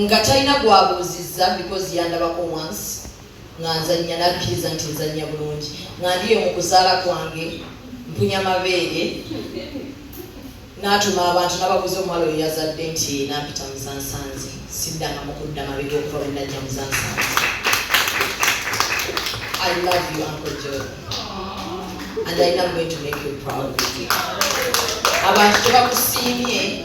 nga talina gwabuuzizza because yandabako once nga nzannya nakkiriza nti nzannya bulungi nga ndiyo mu kuzaala kwange mpunya mabeere natuma abantu nababuuza omuwala oyo yazadde nti nampita muzansanze siddanga mukudda mabega okuva bwe najja muzansanze I love you, Uncle Joe. And I am going to make you proud. Abantu tebakusiimye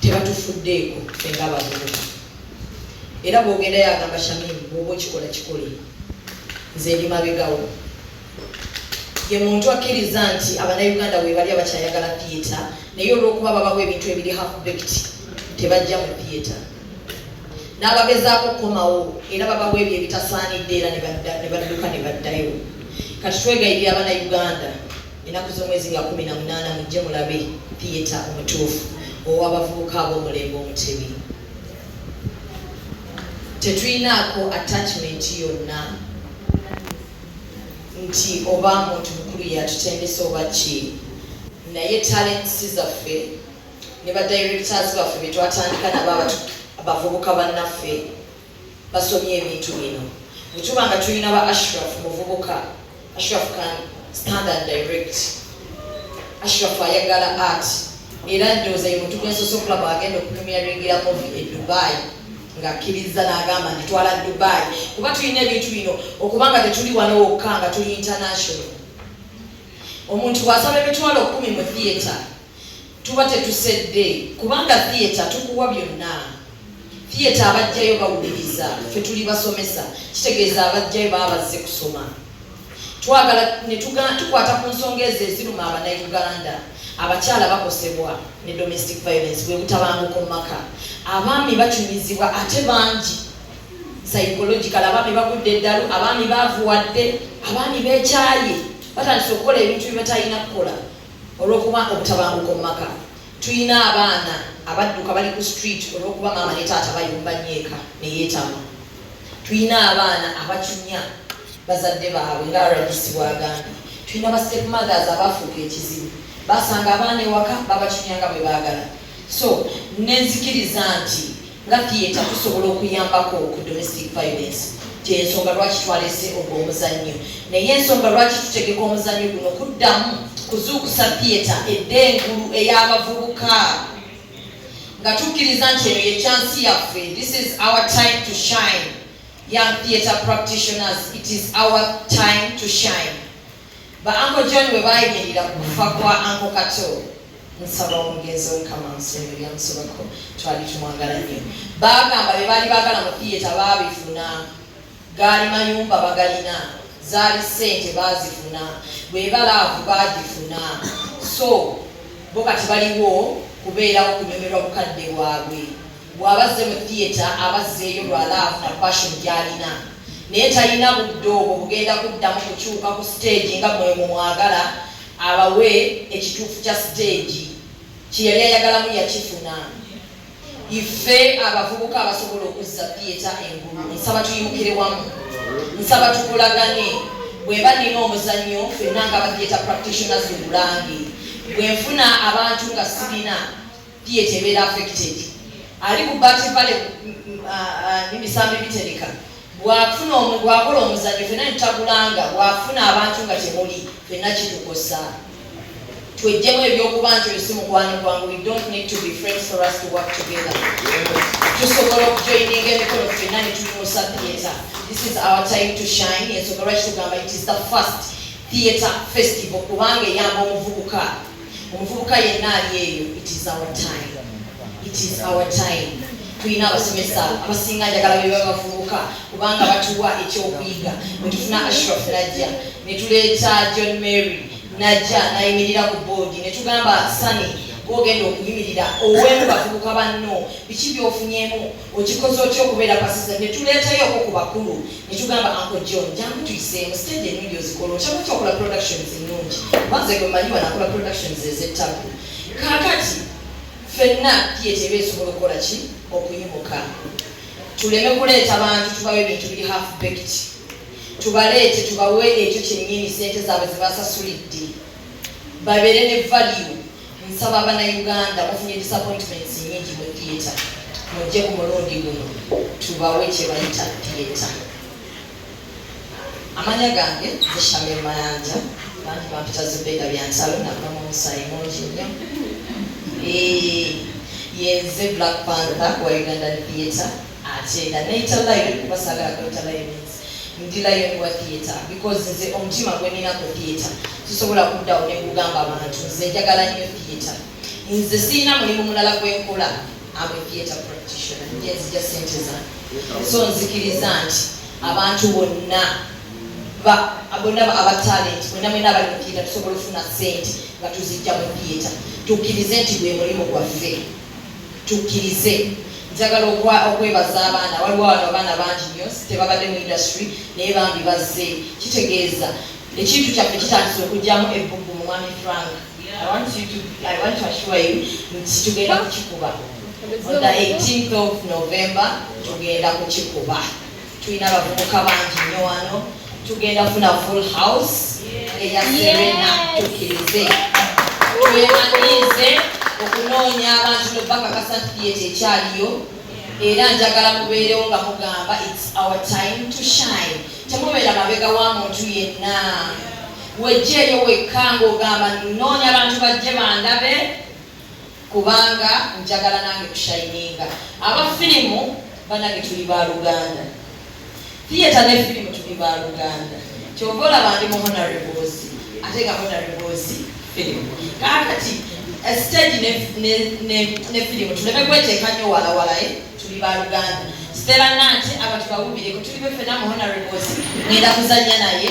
tebatufuddeeko ffe nga abavubuka era bwogenda yagamba shamimu bwoba okikola kikole nze ndi mabegawo ye muntu akkiriza nti abanauganda webali abakyayagala theatre naye olwokuba babawo ebintu ebiri halfbekt tebajja mu theatre n'abagezaako okukomawo era babawo ebyo ebitasaanidde era ne badduka ne baddayo kati twegayirira abanauganda Ennaku z'omwezi nga kumi na munaana mujje mulabe Piyeta omutuufu ow'abavubuka ab'omulembe Omutebi. Tetulinaako attachment yonna nti oba muntu mukulu yatutendesa oba ki, naye talents zaffe ne ba directors baffe betwatandika nabo abavubuka bannaffe basomye ebintu bino bwe tuba nga tulina ba Ashraf muvubuka Ashraf can stand and direct Ashraf ayagala art era ndowooza ye muntu gwensoose okulaba agenda okupremieringira movi e Dubai ng'akkiriza n'agamba nti twala Dubai kuba tulina ebintu bino okubanga tetuli wano wokka nga tuli international omuntu bw'asaba emitwalo kumi mu theatre tuba tetusedde kubanga theatre tukuwa byonna theatre abajjayo bawuliriza fe tuli basomesa kitegeeza abajjayo baba bazze kusoma twagala netukwata ku nsonga ezo eziruma abanauganda abakyala bakosebwa ne domestic violence bwebutabanguko mu maka abaami bacunyizibwa ate bangi psychological abaami bagudde eddalu abaami bavuwadde abaami bekyaye batandise okukola ebintu byebatalina kukola Olwokuba obutabanguko mu maka. Tuyina abaana abadduka bali ku street olwokuba maama ne taata bayomba nnyo eka ne yetamwa. Tuyina abaana abacunya bazadde baabwe nga rdc bwagambye. Tuyina ba step mothers abaafuuka ekizibu. Baasanga abaana ewaka babacunya nga bwe baagala. So, ne nzikiriza nti. Nga theatre tusobola okuyambako ku domestic violence gyensonga lwaki twalese ogwo omuzannyo naye ensonga lwaki tutegeka omuzannyo guno kuddamu kuzuukusa theatre edda engulu ey'abavubuka nga tukkiriza nti eno ye kyansi yaffe this is our time to shine young theatre practitioners it is our time to shine Ba Uncle John bwe baayimirira ku kufa kwa Uncle Kato nsaba omugenzi omukama nsonga ebyamusobako twali tumwagala nnyo baagamba bye baali baagala mu thiyeta baabifuna gaali mayumba bagalina zaali ssente baazifuna bweba laavu baagifuna so bo kati baliwo kubeerawo kunyomerwa bukadde bwabwe Bw'aba azze mu theatre aba azzeeyo lwa laavu na passion gy'alina naye talina budde obwo bugenda kuddamu kukyuka ku siteegi nga mwe mumwagala abawe ekituufu kya siteegi kye yali ayagalamu yakifuna. Ife abavubuka abasobola okuzza theatre engulu nsaba tuyimukire wamu, nsaba tukolagane. Bw'eba nnina omuzannyo ffenna nga ba theatre practitioners mu Bulange bwe nfuna abantu nga sirina diet ebeera affected ali ku bati vale nemisambi bitereka bwafuna omu bwakola omuzanyo fena nitagulanga bwafuna abantu nga temuli fena kitukosa twejjemu ebyokuba nti oyo si mukwano gwange we don't need to be friends for us to work together tusobola okujoininga emikono fena nituyimusa theatre this is our time to shine ensonga lwaki tugamba it is the first theatre festival kubanga eyamba omuvubuka omuvubuka yenna ali eyo it is our time it is our time tulina abasomesa abasinga njagala beba bavubuka kubanga batuwa ekyokuyiga netufuna ashraf najja netuleeta john mary najja nayimirira ku boodi netugamba sani gwogenda okuyimirira owemu bavubuka banno biki byofunyemu okikoze otya okubeera pasisa netuleetayoko ku bakulu netugamba anko john jangu tuyiseemu stage ennungi ozikola okyamu otya okola productions ennungi kubanze gwe manyi wanakola productions ezettaku kakati fenna tiyeteba esobola okukola ki okuyimuka tuleme kuleeta bantu tubawe ebintu biri half baked tubaleete tubawe ekyo kyennyini sente zaabwe zebasasulidde babeere ne value Nsaba abanauganda mufunye disappointments nyingi mu theatre mujje ku mulundi guno tubawe kyebayita theatre. Amanya gange zishamir mayanja bantu bampita zubeda byansalo nava mu musayi mungi nnyo yenze black panther wa ugandan theatre akyenda neyita lion kuba sagala kweyita lion ndi lion wa theatre because nze omutima gweninako theatre sisobola kuddawo nekugamba abantu nze njagala nnyo theatre nze sirina mulimu mulala gwenkola am a theatre practitioner njenzija sente zange so nzikiriza nti abantu bonna bonna aba talent bonna mwena abali mu theatre tusobola ofuna sente nga tuzijja mu theatre tukkirize nti gwe mulimu gwaffe tukkirize njagala okwebaza abaana waliwo wano abaana bangi nyo tebabadde mu industry naye bambi bazze kitegeeza ekintu kyaffe kitandisa okugyamu ebbugu mu mwami frank nti tugenda kukikuba on the 18th of november tugenda kukikuba tulina abavubuka bangi nnyo wano tugenda funa full house eya serena tukirize twemanyiize okunoonya abantu nobakakasa nti yeekyo ekyaliyo era njagala mubeerewo nga mugamba its our time to shine temubeera mabega wa muntu yenna wejjeeyo wekka ngaogamba noonya abantu bajje bandabe kubanga njagala nange kushayininga aba firimu banange tuli ba luganda theatre ne firimu tuli ba luganda kyova olaba ndi mu honorebozi ate nga honorebozi firimu kakati eh, stage ne firimu tuleme kweteeka nyo walawala eh, tuli ba luganda sitera nanti abantu bawubireko tuli befena mu honorebozi ngenda kuzanya naye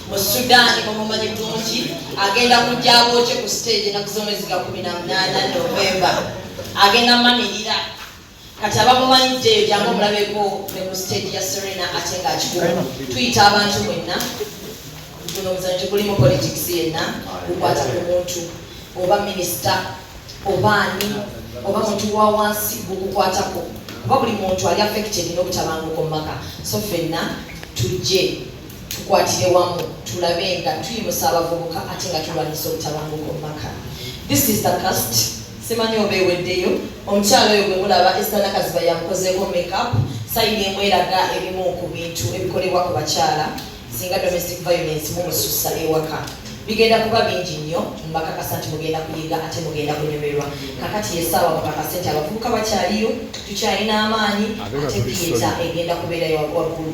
mu sudan mumumanyi bulungi agenda kujja abookye ku stage enaku z'omwezi ga kumi na munaana novemba agenda manirira kati abamumanyiddeeyo jangu omulabeko ne ku stage ya serena ate ng'akikumu tuyita abantu mwenna guno omuzanyo tegulimu politics yenna gukwata ku muntu oba minisita oba ani oba muntu wa wansi gukukwatako kuba buli muntu ali affected n'obutabanguko mu maka so fenna tujje tukwatire wamu tulabe nga tuyimusa abavubuka ate nga tulwanyisa obutabanguko mu maka this is the cast simanyi oba eweddeyo omukyalo oyo gwe mulaba esanakaziba yamukozeeko makeup sayina emweraga ebimu ku bintu ebikolebwa ku bakyala singa domestic violence mumususa ewaka bigenda kuba bingi nnyo mbakakasa nti mugenda kuyiga ate mugenda kunyumirwa kakati yesaawa mukakase nti abavubuka bakyaliyo tukyalina amaanyi ate biyeta egenda kubeerayo waggulu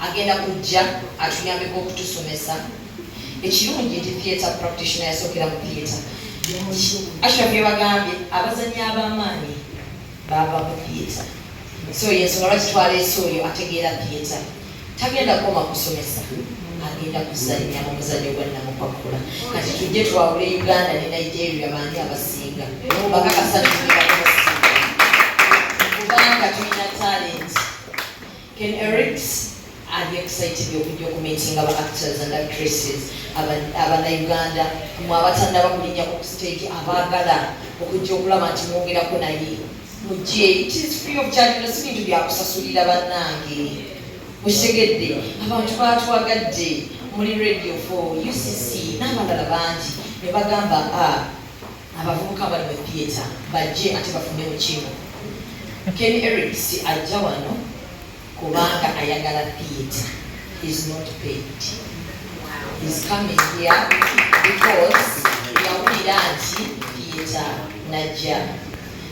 agenda kujja atuyambeko okutusomesa ekirungi nti theatre practitioner yasookera mu theatre ashraf yebagambye abazanyi abamaanyi bava mu theatre so yensonga lwaki twaleese oyo ategeera theatre tagenda koma kusomesa agenda kuzannya mu muzanyo gwa namukwakula kati tujje twawule uganda ne nigeria baani abasinga bakakasatu kubanga tulina talenti Ken Erics ali excited okujja okumitinga ba actors and actresses abanauganda mwe abatannaba kulinyako ku stage abaagala okujja okulaba nti mwogerako naye mujje it is free of charge no si bintu byakusasulira bannange okitegedde abantu baatwagadde muli radio for ucc n'abalala bangi ne bagamba a ah, Abavubuka bali mu theatre bajje ate bafune mu kimu. Ken Erics ajja wano kubanga ayagala theatre. He's not paid. He's coming here because yawulira nti theatre najja.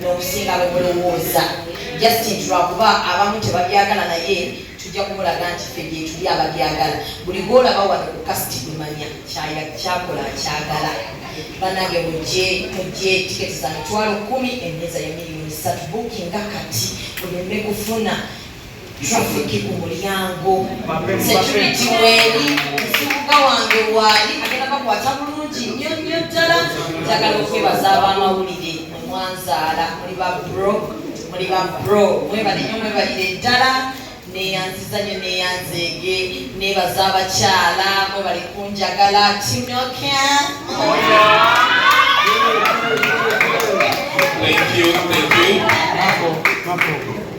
n'okusinga bwe mulowooza just nti lwakuba abamu tebabyagala naye tujja kumulaga nti ffe gyetuli ababyagala buli gwolaba wano ku kasiti kumanya kyakola kyagala banange mujje mujje tiketi za mitwalo kumi emeza ya miliyoni satu bukinga kati oleme kufuna traffic ku mulyango security weeri nsibuka wange waali agenda bakwata bulungi nnyo nnyo ddala njagala okwebaza abamawulire mwanzaala muli ba bro muli ba bro mwebale nnyo mwebalire ddala neyanziza nyo neyanzeege nebaza abakyala mwe bali kunjagala tinoka Thank you, thank you.